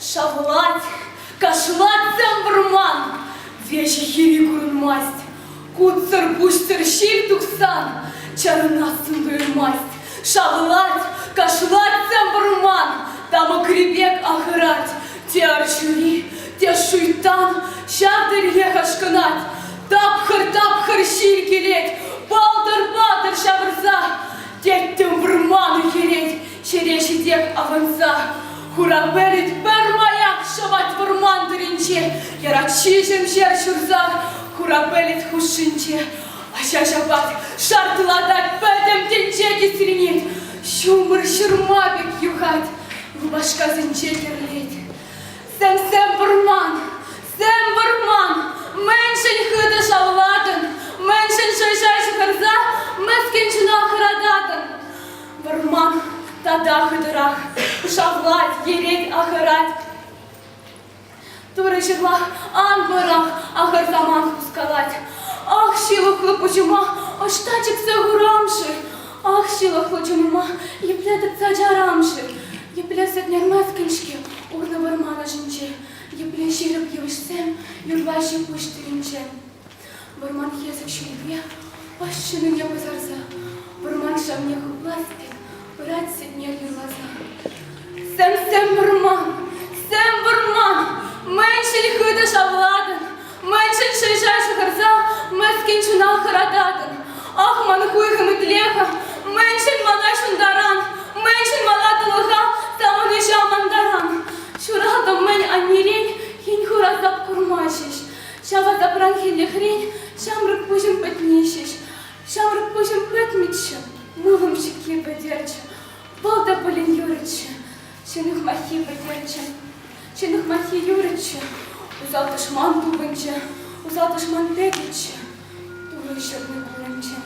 Шавлать, кашлаттем вӑрман, Веҫӗ хиви курӑнмасть. Кутсӑр пуҫтӑр ҫил тухсан, Чарӑнассӑн туйӑнмасть. Шавлать, кашлаттем вӑрман, Тамӑкри пек ахӑрать. Те арҫури, те шуйтан Ҫав тӗллех ашкӑнать. Тапхӑр-тапхӑр ҫил килет, палтӑр-палтӑр ҫавӑрса, тӗттӗм вӑрман ӳхӗрет, ҫӗре ҫитех авӑнса. Хура пӗлӗт пӗрмаях ҫӑвать вӑрман тӑринче, яратҫи ҫемҫер ҫурса хура пӗлӗт хушшинче. Ача ҫапать, шартлатать, пӗтӗм тӗнче кисренет, ҫумӑр ҫырма пек юхать, рубашкасенче кӗрлет. Сӗмсем вӑрман, Тем вӑрман, мӗншӗн хытӑ шавлатӑн, мӗншӗн шӑйша ҫыхӑнса мӗскӗн чуна хӑрататӑн? Вӑрман тата хытӑрах шавлать, йӗрет, ахӑрать. Турӑ ҫырла ан вӑрах, ахӑртаман хускалать. Ах, ҫылӑхлӑ пуҫӑма ӑҫта чиксе хурам-ши? Ах, ҫылӑхлӑ чунӑма епле тытса чарам-ши? Епле сӗтнерместӗн-ҫке урлӑ вӑрман ӑшӗнче? Епле ҫирӗп йывӑҫсем юрла-ҫи пуҫ тӑринче! Вӑрман хӗсӗк ҫилпе пӑс ҫинине пӑсарса, вӑрман шавне хӑплас те пырать сӗтнер юрласа. Сӗм-сӗм вӑрман, сӗм вӑрман, мӗншӗн хытӑ шавлатӑн? Мачча ҫӗрҫа ҫыхӑрса мӗскӗн ҫунан хӑрататӑн. Ах, ман хуйхӑм итле-ха, мӗншӗн мана ҫунтаран, мӗншӗн мана тӑлӑха тапӑнӑҫа амантаран? Ҫуратӑм мӗн аннерен, хӗн хураса курма ҫеҫ. Ҫава тапранхиллӗхрен ҫамрӑк пуҫӑм пӗтни ҫеҫ. Ҫамрӑк пуҫӑм пӗтмӗччӗ, мылӑм ҫикке пӗтерчӗ. Вӑл та пулин юрӗччӗ. Ҫӗн ыхмаххи пӗлтерчӗ. Ҫӗн ыхмаххи юрӗччӗ. Усал тӑшман тупӑнчӗ. Усал тӑшман тӗкӗччӗ. Турӑ ҫырнӑ кулянчӗ.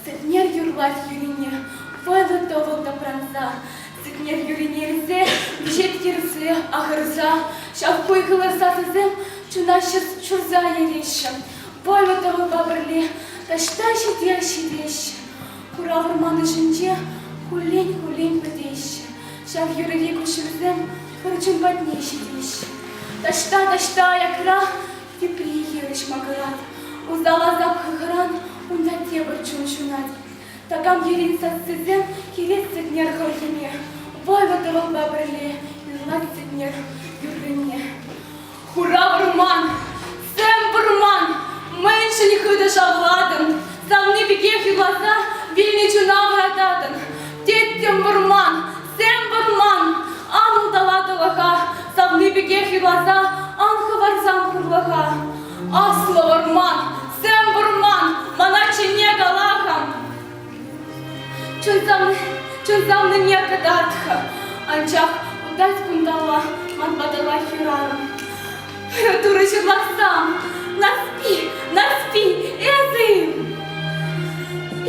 Сӗтнер юрлать юрине, вӑтӑ-тӑвӑл тапранса. Сӗтнер юрине илсе, вӗҫет йӗрсе, ахӑрса. Ҫав хуйхӑллӑ сасӑсем чуна ҫурса ереҫҫӗ. Вӑлӑ-тӑвӑлпа пӗрле таҫта ҫите ҫитеҫҫӗ. Хурал вӑрманӗшӗнче хуллен-хуллен вӗтеҫҫӗ. Ҫав юрри куҫҫульсем пӗр чун патне ҫитеҫҫӗ. Таҫта-таҫта аякра тепри хирӗҫ макӑрать. Усалласа кӑкӑран унта тепӗр чун ҫунать. Такам йӗрин сассисем килет сӗтнер хӑрхине. Вӑйлӑ тӑвӑлпа пӗрле юрлать сӗтнер юррине. Хура вӑрман, сӗм вӑрман, мӗншӗн хытӑ шавлатӑн? Савни пекех юрласа вилнӗ чуна вӑрататӑн. Тӗттӗм вӑрман, сӗм вӑрман, ан улталат улаха, савни пекех юрласа ан хӑварсан хурлӑха. Аслӑ вӑрман, сӗм вӑрман, мана чӗнне кала-ха. Чунтаннине кӑтарт-ха, анчах унтан-кунталла ман патӑма хӗрарӑм. Турӑ ҫырлахсам, Нарспи, Нарспи, эсӗ-им?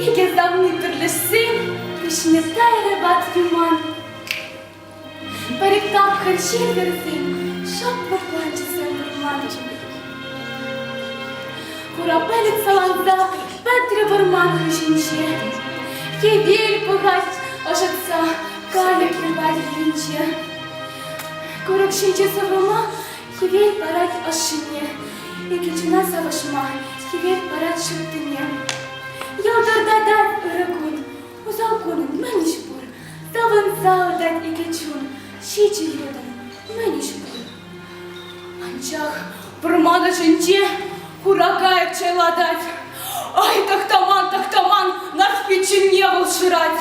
Икӗ савни пӗрлешсен, пиҫме сайрӗ патши ман. Пӗр тапхӑр ҫемӗрсем шӑпӑрланчӗ савӑнланчӗ. Курапелӗк саланса пӗтрӗ вӑрман хыҫӗнче. Кевер пӑхать ӑшӑтса кайӑкӗ варринче. Курӑк ҫинче сыврӑма хӗвел парать ӑшшине. Икӗ чуна савӑшма хӗвел парать ҫуттине. Ялтӑртатать ырӑ кун, усал кун мӗн ӗҫ пур? Тапӑнса выртать икӗ чун, ҫичӗ йытӑ, мӗн ӗҫме? Анчах пӑрман ӑшӗнче хура кайӑк чайлатать. Ай, тӑхтаман, тӑхтаман, Нарспи чӗнне вӑл шырать.